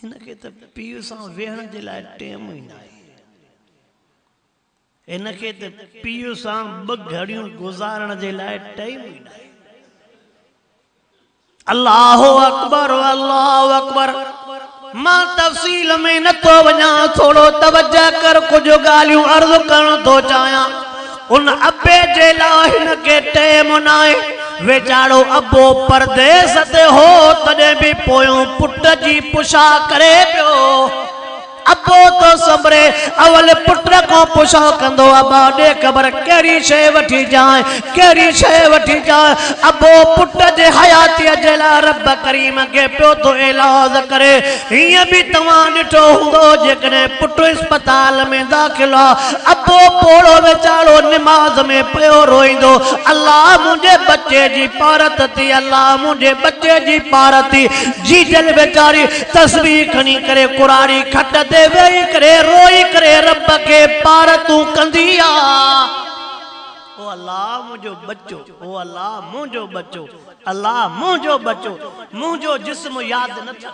هن کي ته پيء سان ويهڻ جي لاء ٽيم ئي ناهي. هن کي ته پيء سان ٻه گهڙيون گذارڻ جي لاء ٽيم ئي ناهي. الله اڪبر الله اڪبر مان تفصيل ۾ نٿو وڃان ٿورو توجه ڪر ڪجهه ڳالهيون عرض ڪرڻ ٿو چاهيان ان ابي جي لاء هن کي ٽيم ناهي. ويچارو ابو پرديس تي هو تڏهن به پويون پٽ جي پڇا ڪري پيو. ابو ٿو سنڀري اول پٽ کان پڇا ڪندو ابا ڏي خبر ڪهڙي شيء وٺي جانء ڪهڙي شيء وٺي جانء. ابو پٽ جي حياتيء جي لاء رب ڪريم کي پيو ٿو ايلاز ڪري. هيئن به توهان ڏٺو هوندو جيڪڏهن پٽ اسپتال ۾ داخل آ. ابو پوڙهو ويچارو نماز ۾ پيو روئيندو الله منهنجي ٻچي جي پارت ٿي الله منهنجي ٻچي جي پارت ٿي جيجل ويچاري تسبيح کڻي ڪري ڪراڙي کٽ تي ويهي ڪري روئي ڪري رب کي پارتون ڪندي آ او الله منهنجو ٻچو او الله منهنجو ٻچو الله منهنجو ٻچو منهنجو جسم ياد نه ٿڪ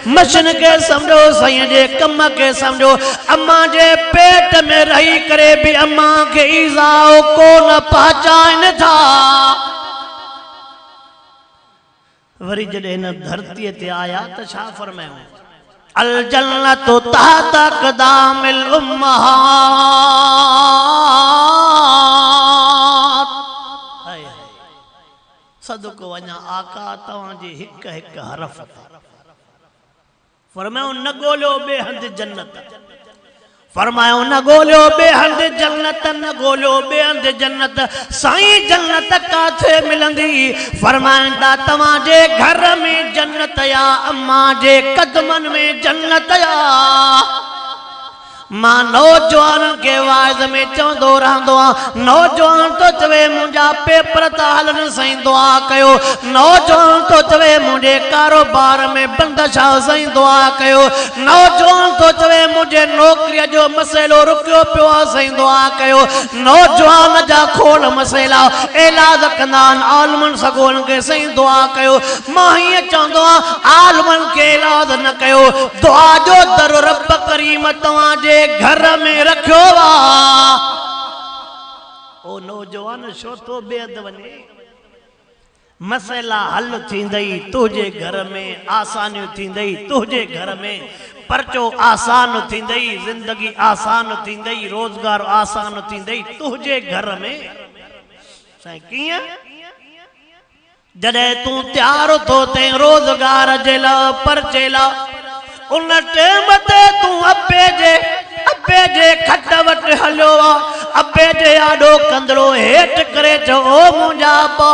مشين کي سمجهو سائين جي ڪم کي سمجهو امان جي پيٽ ۾ رهي ڪري به امان کي ايذاء ڪونه پهچائين ٿا وري جڏهن هن ڌرتي تي آيا ته ڇا فرمايائون الجنت تحت اقدام الامهات صدق وڃان آقا توهان جي هڪ هڪ حرف تي فرمايو نه ڳوليو ٻي هنڌ جنت فرمايو نه ڳوليو ٻي هنڌ جنت نه ڳوليو ٻي هنڌ جنت سائين جنت ڪاٿي ملندي فرمائندا توهان جي گهر ۾ جنت يا امان جي قدمن ۾ جنت يا مان نوجوانن کي واعظ ۾ چوندو رهندو آهيان، نوجوان ٿو چوي منهنجا پيپر ٿا هلن سائين دعا ڪيو، نوجوان ٿو چوي منهنجي ڪاروبار ۾ بندش آ سائين دعا ڪيو، نوجوان ٿو چوي منهنجي نوڪريء جو مسئلو رڪيو پيو آ سائين دعا ڪيو، نوجوان جا کوڙ مسئلا علاج ڪندا آهن عالمن سڳورن کي سائين دعا ڪيو، مان هيئن چوندو آهيان عالمن کي الاذ نه ڪيو، دعا جو در رب ڪريم توهان جي گهر ۾ رکيو آ. او نوجوان ڇو ٿو بي حد وڃين؟ مسئلا حل ٿيندئي تنهنجي گهر ۾، آسانيون ٿيندئي تنهنجي گهر ۾، پرچو آسان ٿيندئي، زندگي آسان ٿيندئي، روزگار آسان ٿيندئي تنهنجي گهر ۾. سائين ڪيئن؟ جڏهن تون تيار اٿو تي روزگار جي لا پرچي لا ان ٽيم تي تون ابي جي ابي جي کٽ وٽ هليو آ ابي جي آڏو ڪندڙو هيٺ ڪري چئو او منهنجا ابا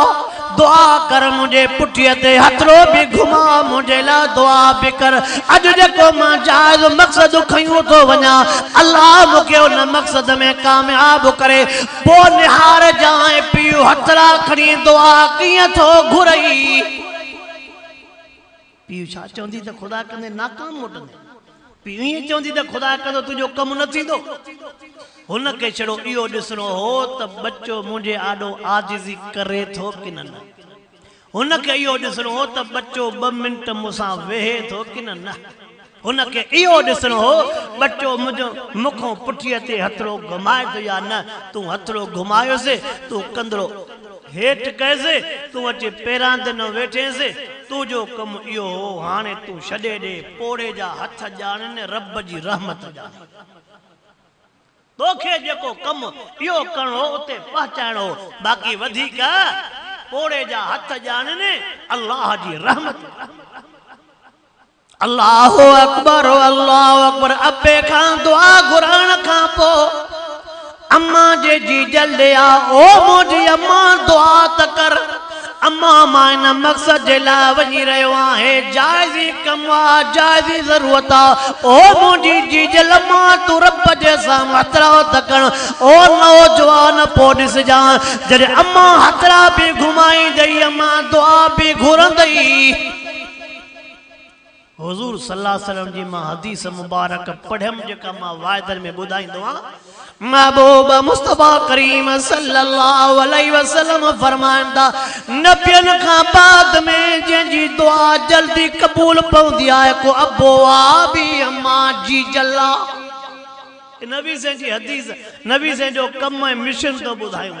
دعا ڪر منهنجي پٺي تي هٿڙو به گهما منهنجي لا دعا به ڪر اڄ جيڪو مان جائز مقصد کنيون ٿو وڃان الله مونکي ان مقصد ۾ ڪامياب ڪري پوء نهار جانء پيو هٿڙا کڻي دعا ڪيئن ٿو گهرئي. پيء ڇا چوندي ته خدا ڪندي ناڪام موٽندين. پيء ائين چوندي ته خدا ڪندو تنهنجو ڪم نه ٿيندو. هن کي ڇڙو اهو ڏسڻو هو ته ٻچو منهنجي آڏو عاجزي ڪري ٿو ڪنه نه. هن کي اهو ڏسڻو هو ته ٻچو ٻه منٽ مون سان ويهي ٿو ڪنه نه. هن کي اهو ڏسڻو هو ٻچو منهنجو مون کان پٺيء تي هٿڙو گهمائي ٿو يا نه. تون هٿڙو گهمايوسي، تون ڪندڙو هيٺ ڪيوسي، تون اچي پيران تي نه ويٺينسي، تنهنجو ڪم اهو هو، هاڻي تون ڇڏي ڏي، پوڙهي جا هٿ ڄاڻين، رب جي رحمت ڄاڻين. توکي جيڪو ڪم اهو ڪرڻو هو اتي پهچائڻو هو باقي وڌيڪ پوڙهي جا هٿ ڄاڻين الله جي رحمت الله اڪبر الله اڪبر ابي کان دعا گهرڻ کان پو امان جي جي جلدي آ او منهنجي امان دعا ته ڪر اما مان ان مقصد جي لاء وڃي رهيو آهي جائزي ڪم آ جائزي ضرورت آ او منهنجي جيجل مان تون رب جي سان مترا ته ڪڻ او نوجوان پو ڏسجان جڏهن اما هٿڙا به گهمائيندئي اما دعا به گهرندئي. حضور صلي الله عليه وسلم جي مان حديث مبارڪ پڙهيم جيڪا مان واعدن ۾ ٻڌائيندو آهيان. محبوب مصطفيٰ ڪريم صلي الله عليه وسلم فرمائن ٿا، نبين کان بعد ۾ جنهن جي دعا جلدي قبول پوندي آهي ڪو ابوابي اما جي جلا. هي نبي سين جي حديث نبي سين جو ڪم ۽ مشن ٿو ٻڌايون.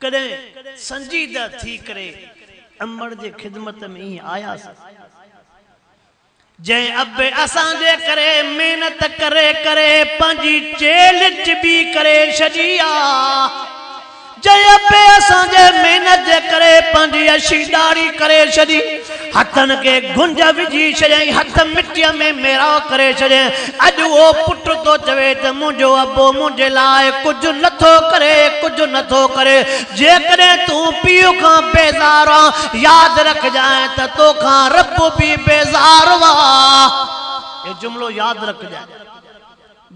ڪڏهن سنجيده ٿي ڪري امڙ جي خدمت ۾ ائين آياس، جنهن اب اسان جي ڪري محنت ڪري ڪري پنهنجي چيلهه چٻي ڪري ڇڏي آ، جنهن اب اسان جي محنت جي ڪري پنهنجي اشي ڏاڙهي ڪري ڇڏي. هٿن کي گهنج وجهي ڇڏيائين، هٿ مٽيء ۾ ميراء ڪري ڇڏيائين. اڄ اهو پٽ ٿو چوي ته منهنجو ابو منهنجي لاء ڪجهه نه ٿو ڪري، ڪجهه نه ٿو ڪري. جيڪڏهن تون پيء کان بيزار آن، ياد رکجانء ته تو کان رب به بيزار هئا. اهو جملو ياد رکجانء.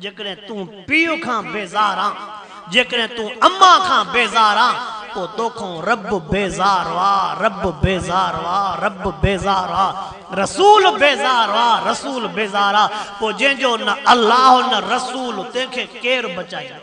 جيڪڏهن تون پيء کان بيزار آن، جيڪڏهن تون اما کان بيزار آن، پوء توکان رب بيزار آ، رب بيزار آ، رب بيزار آ، رسول بيزار آ، رسول بيزار آ، پوء جنهن جو نه الله نه رسول تنهن کي ڪير بچائيندو؟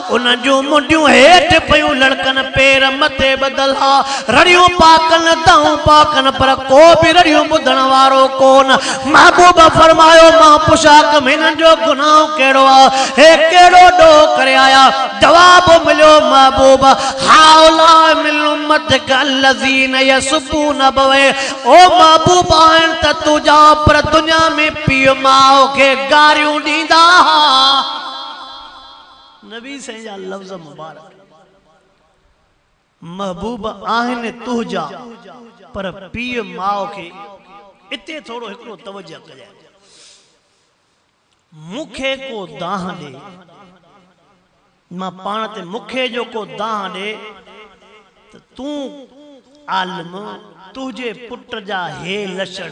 ان جون منڊيون هيٺ پيون لڙڪن، پير مٿي ٻڌل ها. رڙيون پا ڪن، دانهون پا ڪن، پر ڪو به رڙيون ٻڌڻ وارو ڪون. محبوب فرمايو، مان پڇا ڪم هنن جو گناهه ڪهڙو آ؟ هي ڪهڙو ڏوهه ڪري آيا؟ جواب مليو، محبوب! هؤلاء من امتك الذين يسبون ابويه او محبوب! آهن ته تنهنجا پر دنيا ۾ پيء ماء کي گاريون ڏيندا ها. نبي سائين جا لفظ مبارڪ محبوب آهن تهجا پر پيء ماء کي اتي ٿورو هڪڙو توجه ڪجانء مون کي ڪو دانهن ڏي مان پاڻ تي مون کي جو ڪو دانهن ڏي ته تون عالم تهجي پٽ جا هي لڇڻ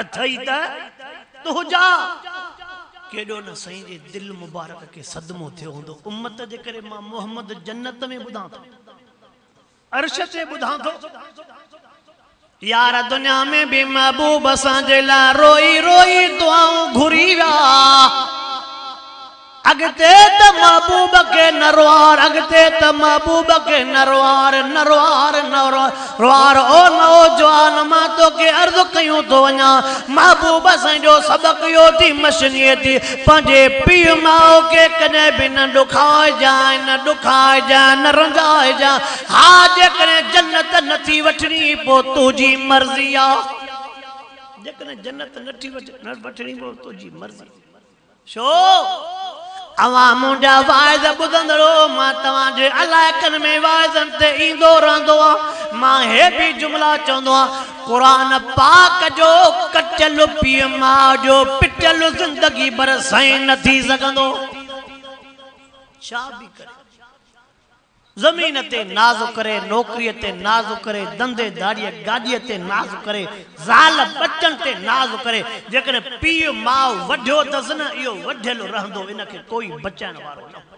اٿئي ته تنهنجا ڪيڏو نه سائين جي دل مبارڪ کي صدمو ٿيو هوندو امت جي ڪري مان محمد جنت ۾ ٻڌان ٿو عرش تي ٻڌان ٿو يار دنيا ۾ به محبوب اسان جي لاء روئي روئي دعائون گهري ويا اڳتي ته محبوب کي نروار اڳتي ته محبوب کي نروار نروار نروار او نوجوان مان توکي عرض ڪيون ٿو وڃان محبوب سائين جو سبق اهو ٿي مشنيء ٿي پنهنجي پيء ماء کي ڪڏهن به نه ڏکائجانء نه ڏکائجانء نه رنجائجانء ها جيڪڏهن جنت نه ٿي وٺڻي پوء تنهنجي مرضي آ جيڪڏهن جنت نه ٿي وٺڻي پوء تنهنجي مرضي ڇو؟ اوهان منهنجا واعظ ٻڌندڙ هئو، مان توهان جي علائقن ۾ واعظن تي ايندو رهندو هئان. مان هي به جملا چوندو هئان، قرآن پاڪ جو ڪٽيل پيء ماء جو پٽيل زندگي ڀر سائين نه ٿي سگهندو. ڇا به ڪري. زمين تي ناز ڪري، نوڪريء تي ناز ڪري، ڌنڌي ڌاڙيء گاڏيء تي ناز ڪري، زال ٻچن تي ناز ڪري، جيڪڏهن پيء ماء وڍيو اٿس نه اهو وڍيل رهندو ان کي ڪوئي بچائڻ وارو نه هوندو.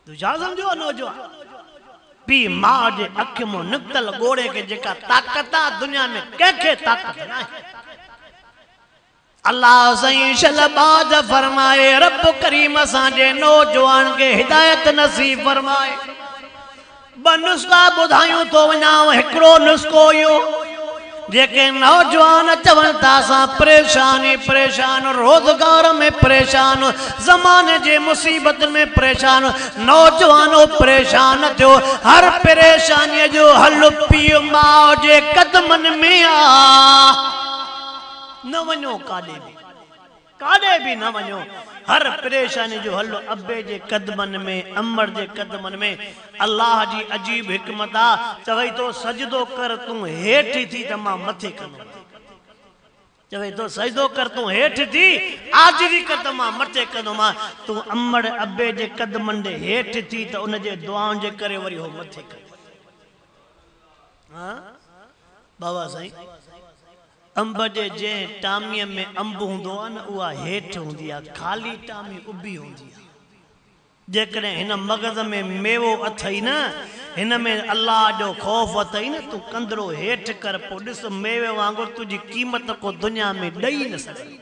تون ڇا سمجهيو آهي نوجوان! پيء ماء جي اک مان نڪتل ڳوڙهي کي جيڪا طاقت آهي دنيا ۾ ڪنهن کي طاقت ناهي. الله سائين شھلباز فرمائي رب ڪريم اسان جي نوجوان کي هدايت نصيب فرمائي ٻه نسخا ٻڌايون ٿو وڃانو هڪڙو نسخو اهو جيڪي نوجوان چون ٿا اسان پريشان ئي پريشان روزگار ۾ پريشان زماني جي مصيبتن ۾ پريشان نوجوانو پريشان ٿيو هر پريشاني جو حل پيء ماء جي قدمن ۾ آ نه وڃو ڪاڏي به ڪاڏي به نه وڃو هر پريشاني جو حل ابي جي قدمن ۾ امڙ جي قدمن ۾ الله جي عجيب حڪمت آ چوي ٿو سجدو ڪر تون هيٺ ٿي ته مان مٿي ڪندم چوي ٿو سجدو ڪر تون هيٺ ٿي عاجزي ڪر ته مان مٿي ڪندومان تون امڙ ابي جي قدمن ڏي هيٺ ٿي ته ان جي دعائن جي ڪري وري هو مٿي ڪندي ها بابا سائين انب جي جنهن ٽامي ۾ انب هوندو آهي نه اها هيٺ هوندي آهي خالي ٽامي اڀي هوندي آهي جيڪڏهن هن مغز ۾ ميوو اٿئي نه هن ۾ الله جو خوف اٿئي نه تون ڪندڙو هيٺ ڪر پو ڏس ميوي وانگر تنهنجي قيمت ڪو دنيا ۾ ڏئي نه سگهندو.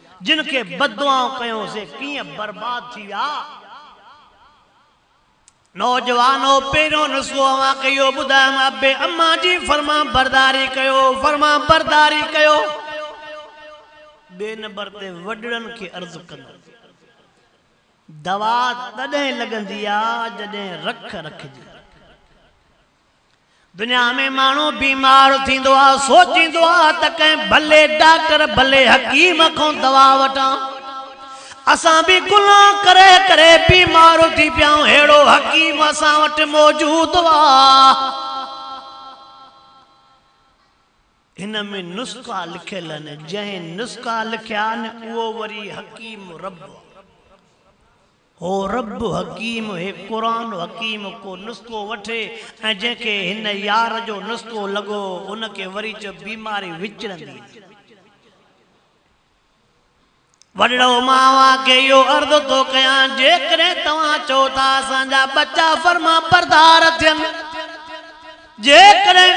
جن کي بددعائون ڪيون سي ڪيئن برباد ٿي ويا. نوجوانو! پهريون نسخو اوهان کي اهو ٻڌايم ابي امان جي فرمانبرداري ڪيو، فرمانبرداري ڪيو. ٻئي نمبر تي وڏڙن کي عرض ڪندس دوا تڏهن لڳندي آ جڏهن رک رکجي. دنيا ۾ ماڻهو بيمار ٿيندو آهي، سوچيندو آهي ته ڪنهن ڀلي ڊاڪٽر، ڀلي حڪيم کان دوا وٺان. اسان به گناهه ڪري ڪري بيمار ٿي پيا آهيون، ههڙو حڪيم اسان وٽ موجود آهي. هن ۾ نسخا لکيل آهن، جنهن نسخا لکيا آهن، اهو وري حڪيم رب آهي. هو رب حڪيم هي قرآن حڪيم ڪو نسخو وٺي ۽ جنهن کي هن يار جو نسخو لڳو ان کي وري چئو بيماري وچڙندي نه. وڏڙو مان اوهان کي اهو عرض ٿو ڪيان جيڪڏهن توهان چئو ٿا اسان جا ٻچا فرمانبردار ٿين. جيڪڏهن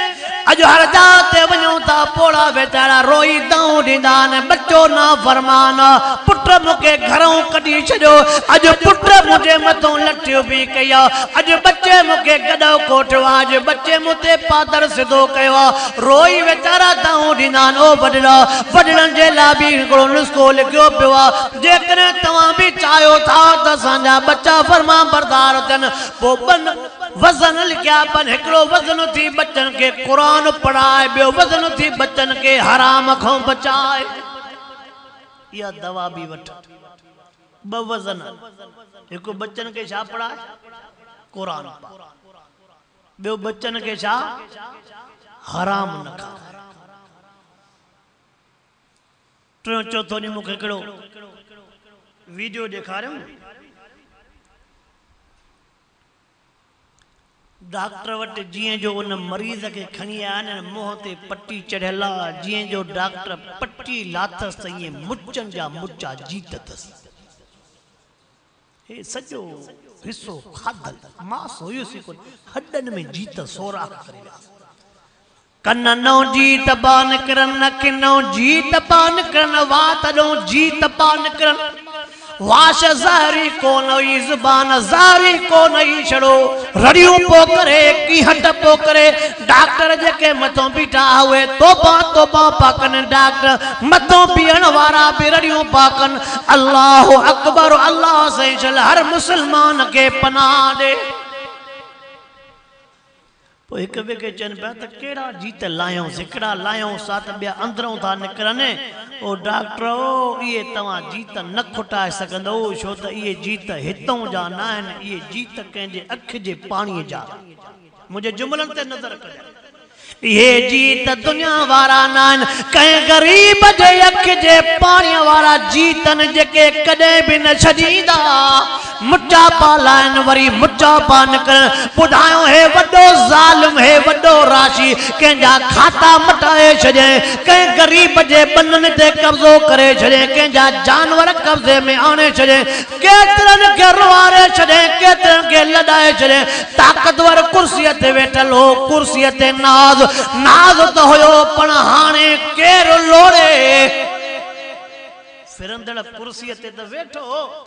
اڄ هر جاء تي وڃون ٿا، پوڙها ويچارا روئي دانهون ڏيندا آهن، ٻچو نافرمان، پٽ مون کي گهرئون ڪڍي ڇڏيو، اڄ پٽ منهنجي مٿئون لٺيون به ڪئي آ، اڄ ٻچي مون کي گڏهه ڪوٺيو آ، اڄ ٻچي مون تي پادر سڌو ڪيو آ، روئي ويچارا دانهون ڏيندا آهن. او وڏڙا! وڏڙن جي لاء به هڪڙو نسخو لکيو پيو آ، جيڪڏهن توهان به چاهيو ٿا ته اسان جا ٻچا فرمانبردار ٿين، پوء ٻن. وزن لکيا پن هڪڙو وزن اٿي ٻچن کي قرآن پڙهاء ٻيو وزن اٿي ٻچن کي حرام کان بچاء اها دوا به وٺ ٻه وزن هڪ ٻچن کي ڇا پڙهاء قرآن پاڪ ٻيو ٻچن کي ڇا حرام نه کاء ٽيون چوٿو ڏينهن مون کي هڪڙو ويڊيو ڏيکاريو ڊاڪٽر وٽ جيئن جو ان مريض کي کڻي آيا آهن ۽ منهن تي پٽي چڙهيل آ، جيئن جو ڊاڪٽر پٽي لاٿس ته ايئن مچن جا مچا جيت اٿس. هي سڄو حصو کاڌل ماس هيس ئي ڪونه، هڏن ۾ جيت سوراخ ڪري ويا هئا. ڪن نئون جي تبا نڪرن نه ڪن نئون جي تبا نڪرن وا تڏئون جي تبا نڪرن واش زهري ڪون هئي زبان زهري ڪون هئي ڇڙو رڙيون پو ڪري ڪيهٽ پو ڪري ڊاڪٽر جيڪي مٿون بيٺا هئي توبا توبا پا ڪن ڊاڪٽر مٿون بيهڻ وارا به رڙيون پا ڪن الله اڪبر الله سائين شل هر مسلمان کي پناهه ڏي پوء هڪ ٻئي کي چون پيا ته ڪهڙا جيت لاهيون، سڪڙا لاهيون سا ته ٻيا اندرئون ٿا نڪرن. او ڊاڪٽرؤ! اهي توهان جيت نه کوٽائي سگهندؤ، ڇو ته اهي جيت هتئون جا ناهن، اهي جيت ڪنهن جي اک جي پاڻيء جا آهن. منهنجي جملن تي نظر ڪجانء. اهي جيت دنيا وارا ناهن، ڪنهن غريب جي اک جي پاڻيء وارا جيت آهن، جيڪي ڪڏهن به نه ڇڄيندا. مٽا پا لائن وري مٽا پا نڪرن ٻڌايو هي وڏو ظالم هي وڏو راشي ڪنهن جا کاتا مٽائي ڇڏيائين ڪنهن غريب جي ٻنن تي قبضو ڪري ڇڏيائين ڪنهن جا جانور قبضي ۾ آڻي ڇڏيائين ڪيترن کي روئاري ڇڏيائين ڪيترن کي لڏائي ڇڏيائين طاقتور ڪرسي تي ويٺل هو ڪرسي تي ناز ناز ته هيو پڻ هاڻي ڪير لوڙي ڦرندڙ ڪرسي تي ته ويٺو هو.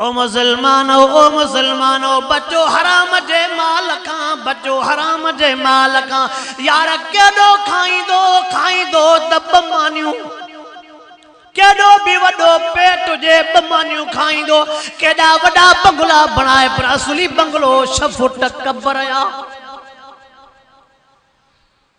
او مسلمانؤ! او مسلمانؤ! بچو حرام جي مال کان، بچو حرام جي مال کان. يار ڪيڏو کائيندو، کائيندو ته ٻه مانيون، ڪيڏو به وڏو پيٽ هجي ٻه مانيون کائيندو. ڪيڏا وڏا بنگلا بڻائي پر اصلي بنگلو ڇهه فوٽ قبر آ.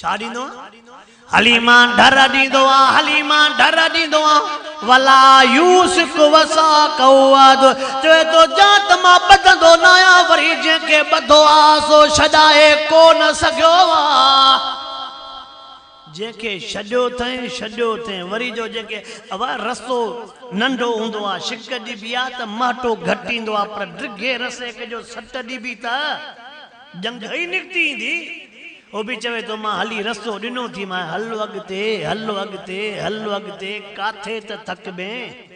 ڇا ڏيندو آ؟ هلي مان ڍر ڏيندو آ، هلي مان ڍر ڏيندو آ. ولا يوثق وثاقه احد، چوي ٿو جا ته مان ٻڌندو نه آهيان، وري جنهن کي ٻڌو آ سو ڇڏائي ڪو نه سگهيو آ. جنهن کي ڇڏيو اٿئين، ڇڏيو اٿئين، وري جو جيڪي اوا رسو ننڍو هوندو آ، شڪ ڏبي آ ته مهٽو گهٽ ايندو آ، پر ڊگهي رسيڪ جو سٽ ڏبي ته ڄنگهه ئي نڪتي ايندي. هو به چوي ٿو مان هلي رستو ڏنو ٿي مان هل اڳتي هل اڳتي هل اڳتي ڪاٿي ته ٿڪبين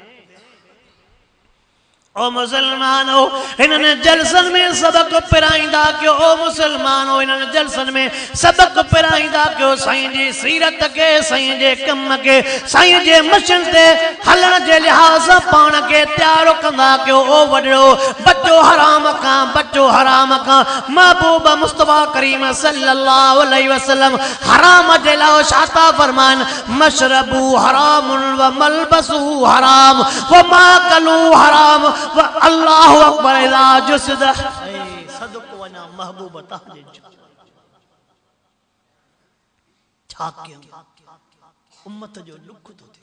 او مسلمانو انن جلسن ۾ سبق پرائيندا ڪيو او مسلمانو انن جلسن ۾ سبق پرائيندا ڪيو سائين جي سيرت کي سائين جي ڪم کي سائين جي مشن تي هلڻ جي لحاظ پاڻ کي تيار ڪندا ڪيو او وڏڙو بچو حرام کان بچو حرام کان محبوب مصطفيٰ ڪريم صلّي اللّٰه عليه وسلّم حرام جي لاء ڇا ٿا فرمائن، مشربه حرام و ملبسه حرام و ماڪله حرام و اللّٰه اڪبر اذا جسد. صدق وڃان محبوب تنهنجي جا ڇا ڪيون امت جو ڏک ٿو ٿئي.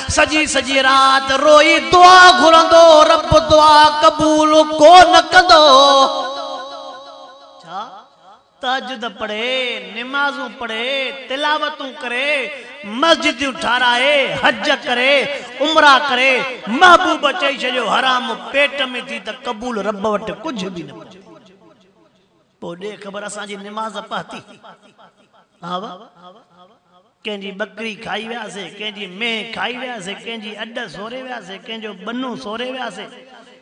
سڄي سڄي رات روئي دعا گهرندو رب دعا قبول ڪو نه ڪندو ڇا تهجد پڙهي نمازون پڙهي تلاوتون ڪري مسجديون ٺاراهي حج ڪري عمرا ڪري محبوب چئي ڇڏيو حرام پيٽ ۾ ٿي ته قبول رب وٽ ڪجهه به نه ڪندي. پوء ڏي خبر اسان جي نماز پهتي هاء ڪنهن جي ٻڪري کائي وياسي ڪنهن جي مينهن کائي وياسي ڪنهن جي اڏ سوري وياسي ڪنهن جو ٻنو سوري وياسي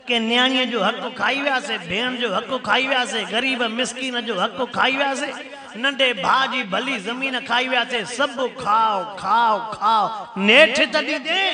ڪنهن نياڻيء جو حق کائي وياسي ڀيڻ جو حق کائي وياسي غريب مسڪين جو حق کائي وياسي ننڍي ڀاء جي ڀلي زمين کائي وياسي سڀ کاء کاء کاء نيٺ ته ڏيندين.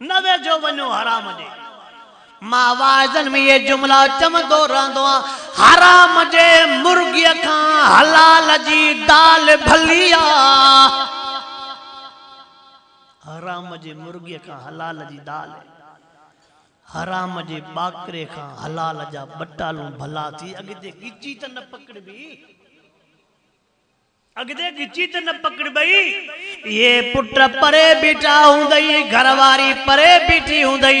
نه ويجهو وڃو حرام جي. مان واعظن ۾ اهي جملا چوندو رهندو آهيان، حرام جي مرغيء کان حلال جي دال ڀلي آ. حرام جي مرغيء کان حلال جي دال، حرام جي ٻاڪري کان حلال جا ٻٽالون ڀلا ٿي. اڳتي ڳچي ته نه پڪڙبي. اڳتي ڳچي ته نه پڪڙبئي. اهي پٽ پري بيٺا هوندئي، گهر واري پري بيٺي هوندئي.